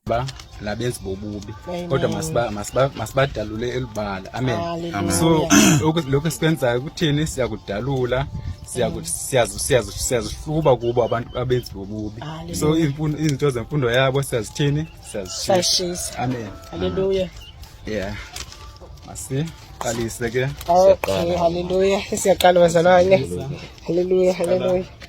ba labenzi bobubi kodwa masiba masiba masibadalule elibala amen so lokho esikwenzayo kuthini siyakudalula siyazihluba kubo abantu abenzi bobubi so izinto zemfundo yabo siyazithini siyazishisa amen haleluya yeah masi qalise ke okay haleluya siyaqala bazalwane haleluya haleluya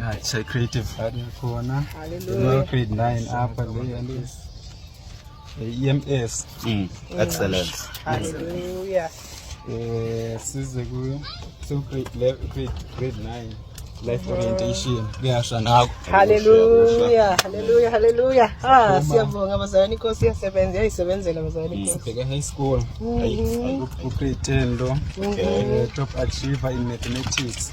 Ah, it's a creative partner khona. Hallelujah. Grade 9 up and there and this. The EMS. Mm. Excellent. Hallelujah. Eh, size ku so grade grade grade 9 life orientation kuyasha nakho. Hallelujah. Hallelujah. Hallelujah. Ah, siyabonga bazalwane inkosi yasebenza yayisebenzela bazalwane inkosi. Sibheke high school. Ayi, ku grade 10 lo. Eh, top achiever in mathematics.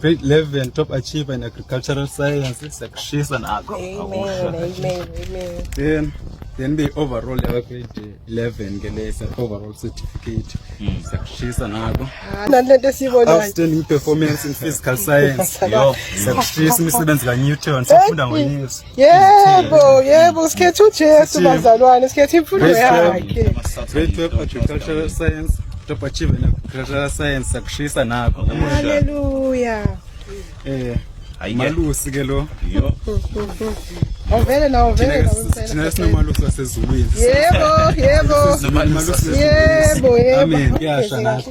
Grade 11 top achiever in agricultural science siyakushisa nakho. Amen, amen, amen. Then then be overall yakwa grade 11 ke lesa overall certificate hmm. siyakushisa nako nalento siyibonayo outstanding performance in physical science yo siyakushisa imisebenzi ka Newton sifunda ngoyesu Yebo, yebo sikhetha uJesu bazalwane, sikhetha imfundo yakhe. Grade 12 agricultural science, top achiever in agricultural science akushisa nakho. Hallelujah. Eh, malusi ke lo. Yo. Awuvele nawo vele nawo. Thina sinomalusi wasezulwini. Yebo, yebo. Yebo, yebo. Amen. Yasha nathi.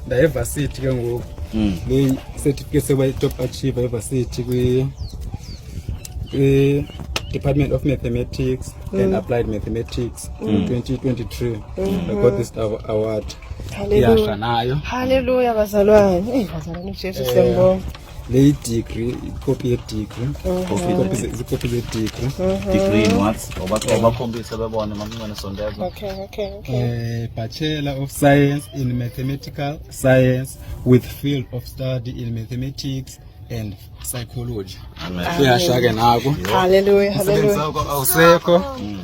ndayevasithi ke ngoku hmm. le certificate sokuba i-top achiever evasithi kwi-department of mathematics and hmm. applied mathematics in 2023 hmm. i got this award iyasha nayo halleluya bazalwane eyi bazalwane ujesu eh. siyambonga le yidigri ikopi yedigri zikopi zedigri degree in what obakhombise bebone mamncane sondeza okay okay okay eh, bachelor of science in mathematical science with field of study in mathematics and psychology uyasha ke nako haleluya haleluya awusekho mm.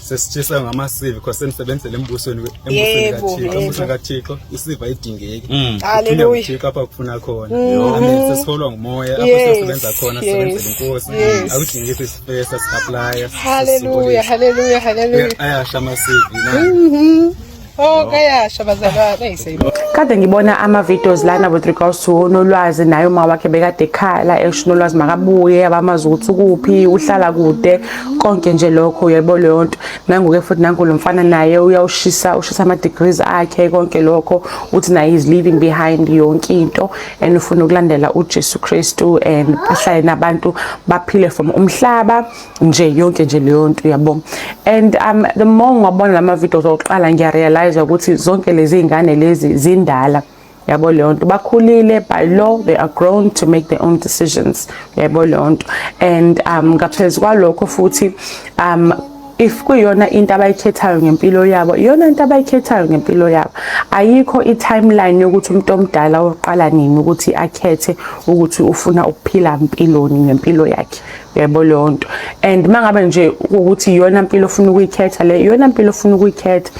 sesitshiswa ngamasivi because senisebenzele embusweni embusweni kaThixo isiva idingeki mm. haleluya Thixo apha kufuna khona mm. amen sesiholwa ngumoya apho sesebenza khona sisebenzele inkosi akudingeki isipesa siapply haleluya haleluya haleluya ayasha amasivi na mm-hmm. Oh kayasha bazalwane eyiseyibo. Kade ngibona ama videos lana with regards to unolwazi naye uma wakhe bekade ekhala esho unolwazi makabuye abamazi ukuthi ukuphi uhlala kude konke nje lokho uyebo leyo nto nangoke futhi nangu lo mfana naye uyawushisa ushisa ama degrees akhe konke lokho uthi naye is leaving behind yonke into and ufuna ukulandela uJesu Kristu and ahlale nabantu baphile from umhlaba nje yonke nje leyo nto uyabo and um, the more ngabona lama videos okuqala ngiyarealize ukuthi zonke lezi ngane lezi zindala yabo leyo nto bakhulile by law they are grown to make their own decisions yabo leyo nto and um ngaphezu kwalokho futhi um if kuyona into abayikhethayo ngempilo yabo iyona into abayikhethayo ngempilo yabo ayikho i-timeline yokuthi umuntu omdala oqala nini ukuthi akhethe ukuthi ufuna ukuphila mpiloni ngempilo yakhe yebo leyo nto and uma ngabe nje ukuthi iyona mpilo ofuna ukuyikhetha le iyona mpilo ofuna ukuyikhetha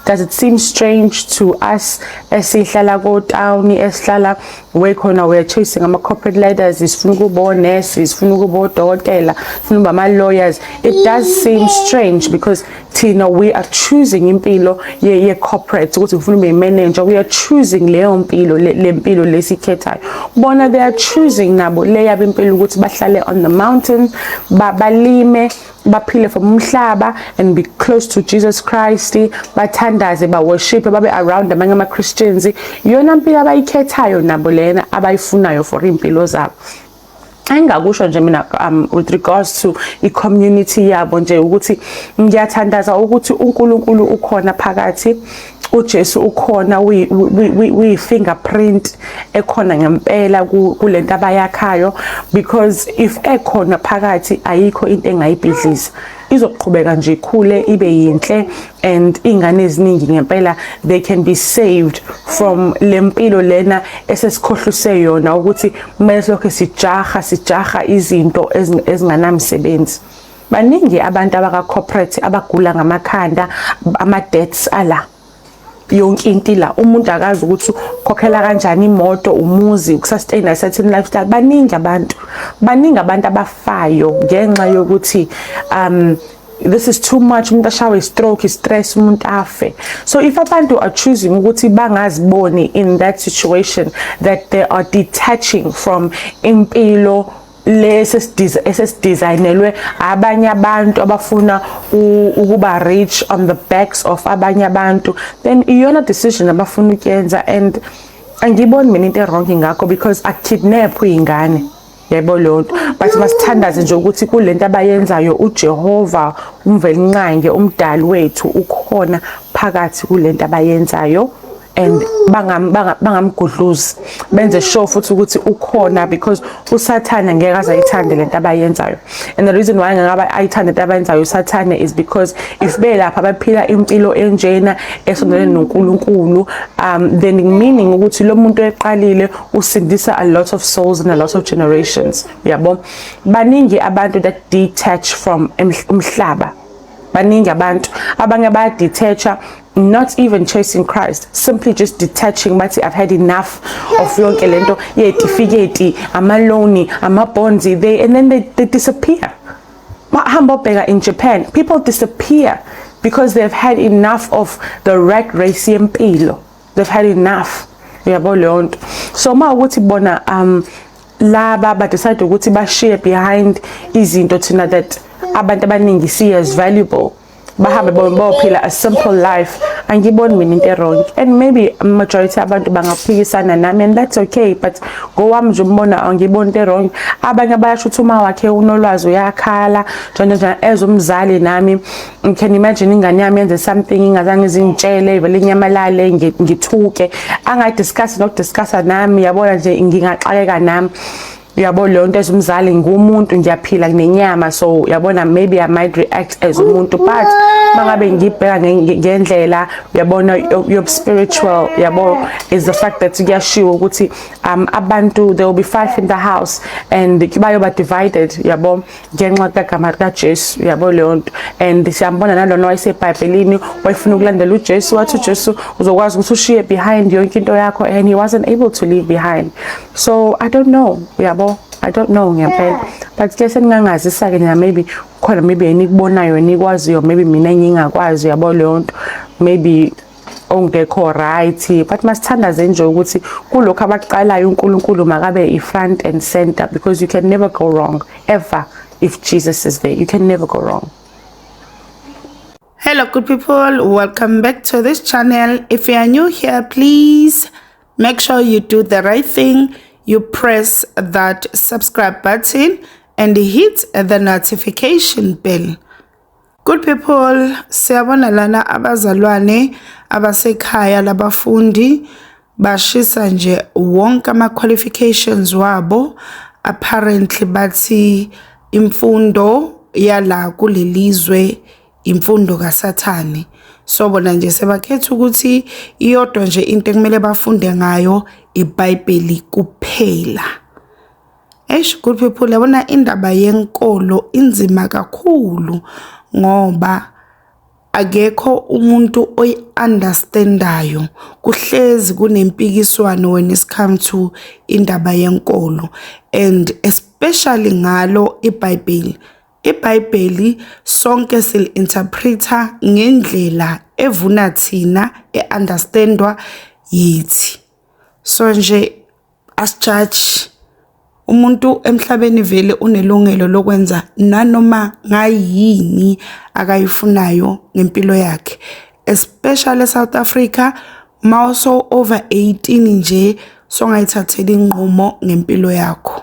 does it seem strange to us esihlala kotawuni esihlala we khona we are chasing ama-corporate leaders sifuna ukuba onesi sifuna ukuba odokotela sifuna ukuba ama-lawyers it does seem strange because thina we are choosing impilo ye, ye corporate ukuthi ngifuna ube manager we are choosing leyo mpilo le mpilo lesikhethayo bona they are choosing nabo le yabo impilo ukuthi bahlale on the mountain balime baphile from umhlaba and be close to Jesus Christ bathandaze ba worship babe around amanye ama Christians yona mpilo abayikhethayo nabo lena abayifunayo for impilo zabo engakusho nje mina um, with regards to i-community yabo nje ukuthi ngiyathandaza ukuthi uNkulunkulu ukhona phakathi uJesu ukhona uyi-fingerprint ekhona ngempela kule nto abayakhayo because if ekhona phakathi ayikho into engayibhidliza izoqhubeka nje ikhule ibe yinhle and ingane eziningi ngempela they can be saved from lempilo lena esesikhohluse yona ukuthi kumele lokho sijaha sijaha izinto ezinganamsebenzi baningi abantu abaka corporate abagula ngamakhanda ama deaths ala yonke into la umuntu akazi ukuthi ukhokhela kanjani imoto umuzi ukusustain a certain lifestyle baningi abantu baningi abantu abafayo ngenxa yokuthi um this is too much umuntu ashawe istroke istress umuntu afe so if abantu are choosing ukuthi bangaziboni in that situation that they are detaching from impilo lesi esesidesignelwe abanye abantu abafuna ukuba rich on the backs of abanye abantu then iyona decision abafuna ukuyenza and angiboni mina into ewrong ngakho because akukidnaphwe ingane yebo leyo nto but masithandaze nje ukuthi kule nto abayenzayo ujehova umvelinqange umdali wethu ukhona phakathi kule nto abayenzayo and bangamgudluzi benze sure futhi ukuthi ukhona because usathane ngeke aze ayithande lento abayenzayo and the reason why ngeke ayithande into abayenzayo usathane is because if belapha baphila impilo enjena esondelene noNkulunkulu um then meaning ukuthi lo muntu eqalile usindisa a lot of souls and a lot of generations yabo baningi abantu that detach from umhlaba baningi abantu abanye bayadethacha not even chasing Christ simply just detaching bathi I've had enough of yonke lento yetifiketi ama loan ama bonds they and then they, they disappear bahamba bheka in Japan people disappear because they've had enough of the rat race yempilo they've had enough yabo leyo nto so uma ukuthi bona um laba ba decide ukuthi ba share behind izinto thina that abantu abaningi see as valuable bahambe bophila a simple life angiboni mina into erong and maybe majority abantu bangaphikisana nami and that's okay but ngowami nje umbona angiboni into erong abanye bayasho ukuthi uma wakhe unolwazi uyakhala njalo njalo as umzali nami you can imagine ingane yami yenze something ingazange izingitshele vele inyamalale ngithuke angayi discuss nokudiscussa nami yabona nje ngingaxakeka nami yabo leyo nto as umzali ngumuntu ngiyaphila nginenyama so yabona maybe i might react as umuntu but mangabe ngibheka ngendlela uyabona yobuspiritual yabo is the fact that kuyashiwo ukuthi um abantu there will be five in the house and bayoba divided yabo ngenxa kagama likajesu yabo leyo nto and siyambona nalona wayesebhayibhelini wayefuna ukulandela ujesu wathi ujesu uzokwazi ukuthi ushiye behind yonke into yakho and he wasn't able to leave behind so i don't know uyabo i don't know ngempela but ke seningangazisa ke nina maybe khona maybe enikubonayo enikwaziyo maybe mina ngingakwazi uyabo leyo nto maybe ongekho right but masithandaze nje ukuthi kulokho abakuqalayo uNkulunkulu makabe i-front and center because you can never go wrong ever if Jesus is there you can never go wrong Hello good people welcome back to this channel if you are new here please Make sure you do the right thing. You press that subscribe button and hit the notification bell. Good people, siyabona lana abazalwane abasekhaya labafundi bashisa nje wonke ama qualifications wabo apparently bathi imfundo yala kulelizwe imfundo kaSathane. So bona nje sebakhetha ukuthi iyodwa nje into ekumele bafunde ngayo iBhayibheli kuphela. Eish good people yabona indaba yenkolo inzima kakhulu ngoba akekho umuntu oyi-understandayo kuhlezi kunempikiswano when it come to indaba yenkolo and especially ngalo iBhayibheli IBhayibheli sonke sili-interpreter ngendlela evuna thina e-understandwa yithi. So nje asijaji umuntu emhlabeni vele unelungelo lokwenza nanoma ngayini akayifunayo ngempilo yakhe especially eSouth Africa mawuso over 18 nje songayithathela inqumo ngempilo yakho.